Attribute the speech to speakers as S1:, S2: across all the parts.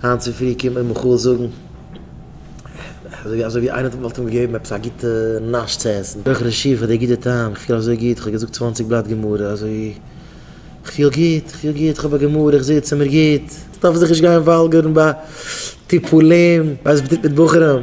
S1: היינט צופרי קומט מיר מיכאל זאגן אזוי אזוי ווי איינער וואלט אים געגעבן עפעס א גוטע נאש צו עסן, אויך ר' שיף פאר די גוטע טעם, איך פיל אזוי גוט, איך האב געזאגט צוואַנציק בלאט גמרא, אזוי איך פיל גוט, איך פיל גוט, איך האב א גמרא, איך זיץ און מיר גוט, איך דארף זיך נישט גיין וואלגערן ביי טיפולים, ביי ז ב מיט בחורים.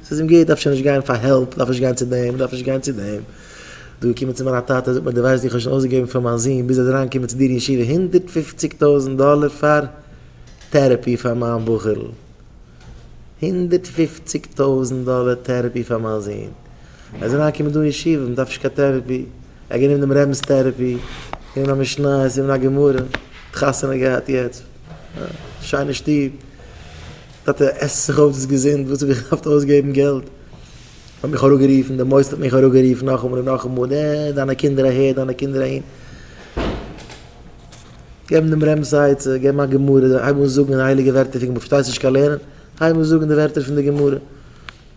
S1: ס'איז אים גוט, אפשר נישט גיין פאר העלפ, דארף נישט גיין צו דעם, דארף נישט גיין צו דעם. דא געקומען צו מיין טאטע, זאגט מיר, דו ווייסט ווי איך האב שוין אויסגעגעבן פאר מיין זון, ביז ער איז אריינגעקומען צו דיר אין ישיבה, הונדערט פופציג טויזנט דאלער פאר טערעפי פאר מיין בחור'ל. הונדערט פופציג טויזנט דאלער טערעפי פאר מיין זון. ער איז אריינגעקומען דא אין ישיבה, מען דארף נישט קיין טערעפי. ער האט גענומען דעם רבינ'ס טערעפי, גענומען א משניות, גענומען א גמרא, האט חתונה געהאט יעצט. שיינע שטוב. טאטע, עס זיך אויף דאס געזונט, וואס האב איך געהאפט אויסגעבן געלט? האט מיך אראפגערופן, די מוסד האט מיך אראפגערופן נאכאמאל און נאכאמאל, עה, דיינע קינדער אהער, דיינע קינדער אהין. געבן דעם רמ ז א עצה, געבן א גמרא, הייב אן זאגן די הייליגע ווערטער פון גמרא, פארשטייסט נישט קיין לערנען, הייב אן זאגן די ווערטער פון די גמרא.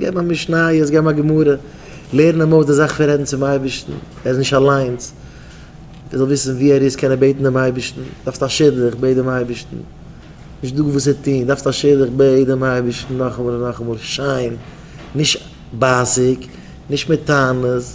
S1: געב א משניות, געב א גמרא, לערן אים אויס די זאך פון רעדן צום אייבערשטן, ער איז נישט אליינס, ער זאל וויסן ווי ער איז קען ער בעטן דעם אייבערשטן, דארפסט א שידוך, בעט דעם אייבערשטן, נישט דא וואס צו טון, דארפסט א שידוך, בעט דעם אייבערשטן נאכאמאל און נאכאמאל, שיין, נישט בייסיג, נישט מיט טענות.